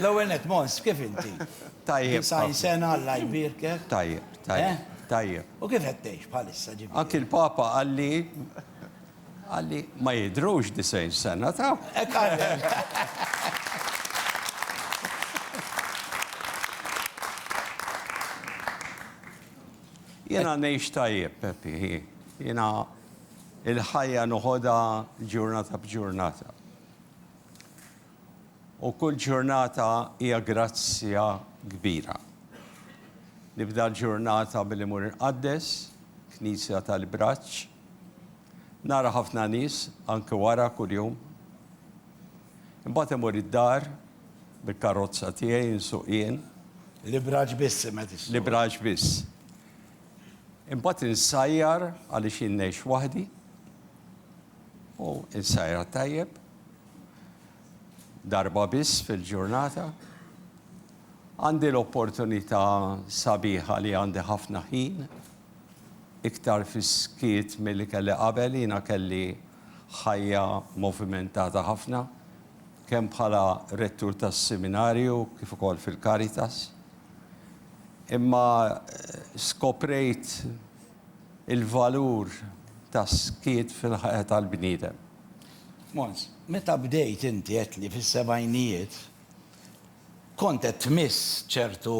L-ewwel nett, Mons, kif inti? Tajjeb. Disgħin sena, Alla jbierkek. Tajjeb, tajjeb, tajjeb. U kif qed tgħix bħalissa ġifieri? Anki l-Papa qalli qalli ma jidhrux disgħin sena taf. Hekk qalek. Jiena ngħix tajjeb, Peppi. Jiena il-ħajja noħodha ġurnata b'ġurnata. U kull ġurnata hija grazzja kbira. Nibda l-ġurnata billi mur inqaddes, Knisja tal-Ibraċċ. Nara ħafna nies anke wara kuljum. Imbagħad imur id-dar bil-karozza tiegħi insuq jien. L-Ibraċċ biss imma qed issuq. L-Ibraċċ biss. Imbagħad insajjar għaliex jien ngħix waħdi. U insajjar tajjeb. darba biss fil-ġurnata, għandi l-opportunità sabiħa li għandi ħafna ħin, iktar fis-skiet milli kelli qabel, jiena kelli ħajja movimentata ħafna, kemm bħala rettur tas-Siminarju kif ukoll fil-Caritas. Imma skoprejt il-valur tas-skiet fil-ħajja tal-bniedem. Mons, meta bdejt inti għedtli fis-sebgħinijiet kont qed tmiss ċertu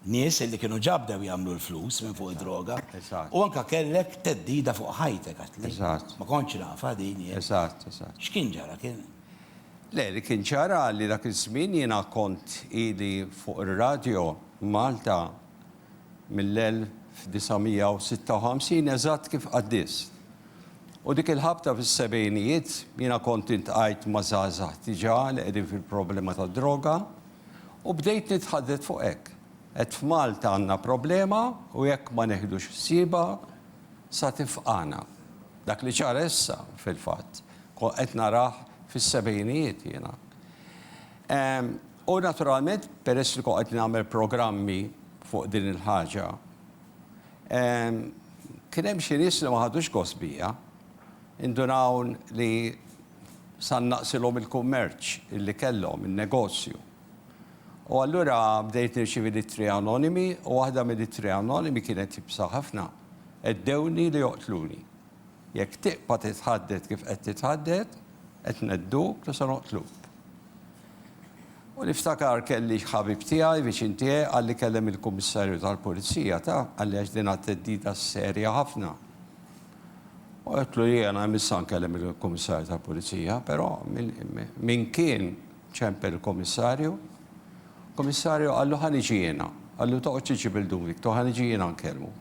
nies illi kienu ġa bdew jagħmlu l-flus minn fuq id-droga. Eżatt. U anke kellek theddida fuq ħajtek għedtli. Eżatt. Ma kontx nafha din jien. Eżatt, eżatt. X'kien ġara? Kien? Le, li kien ġara li dak iż-żmien jiena kont ili fuq ir-radjo Malta. mill-1956 eżatt kif qaddist. U dik il-ħabta fis-sebgħinijiet jiena kont iltqajt ma' żgħażagħ diġà li qegħdin fil-problema tad-droga u bdejt nitħaddet fuq hekk. Għedt f'Malta għandna problema u jekk ma neħdux ħsiebha sa tifqagħna. Dak li ċara issa, fil-fatt, qed narah fis-sebgħinijiet jiena. U naturalment, peress li kont qed nagħmel programmi fuq din il-ħaġa, kien hemm xi nies li ma ħadux gost bija. Indunaw li sar naqsilhom il-kummerċ li kellhom, in-negozju. U allura bdejt nirċievi l-ittri anonimi u waħda mill-ittri anonimi kienet iebsa ħafna, Għeddewni li joqtluni. Jekk tibqa' titħadded kif qed titħadded, qed ngħedduk u se noqtluk. U niftakar kelli ħabib tiegħi, viċin tiegħi, qalli kellem il-Kummissarju tal-Pulizija, taf, qalli għax din għad theddida serja ħafna. U għedtlu jiena imissa nkellem il-Kummissarju tal-Pulizija, però min kien ċempel il-Kummissarju, Kummissarju qallu ħa niġi jiena, qallu toqgħodx iġib il-Dun Victor, ħa niġi jiena nkellmu.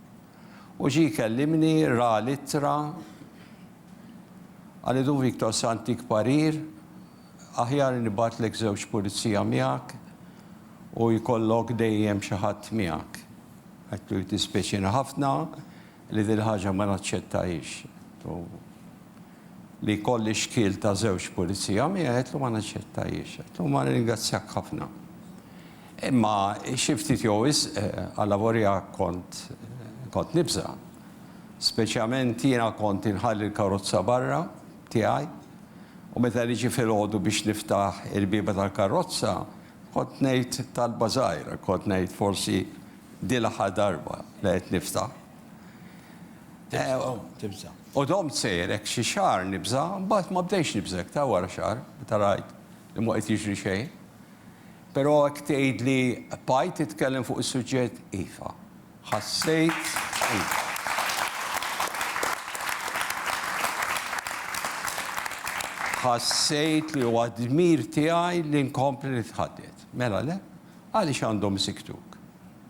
U ġie jkellimni, ra l-ittra, qalli Dun Victor se ntik parir, Aħjar nibgħatlek żewġ pulizija miegħek u jkollok dejjem xi ħadd miegħek. Għidtlu jiddispjaċina ħafna li dil-ħaġa ma naċċettahiex. Għidtlu li jkolli xkiel ta' żewġ pulizija miegħi għidtlu ma naċċettahiex. Għidtlu ma nirringrazzjak ħafna. Imma xi ftit jew wisq għalavolja kont kont nibża'. Speċjament jiena kont inħalli l-karozza barra, tiegħi, u meta niġi filgħodu biex niftaħ il-bieba tal-karrozza, kont ngħid talba żgħira, kont ngħid, Forsi din l-aħħar darba li qed niftaħ. U domt sejjer hekk xi xahar nibża', mbagħad ma bdejtx nibża' iktar wara xahar, meta rajt li mhu qed jiġri xejn. Però hekk tgħidli, Paj, titkellem fuq is-suġġett? Iva. Ħassejt Ħassejt li huwa d-dmir tiegħi li nkompli nitħadded. Mela le? Għaliex għandhom isiktuk?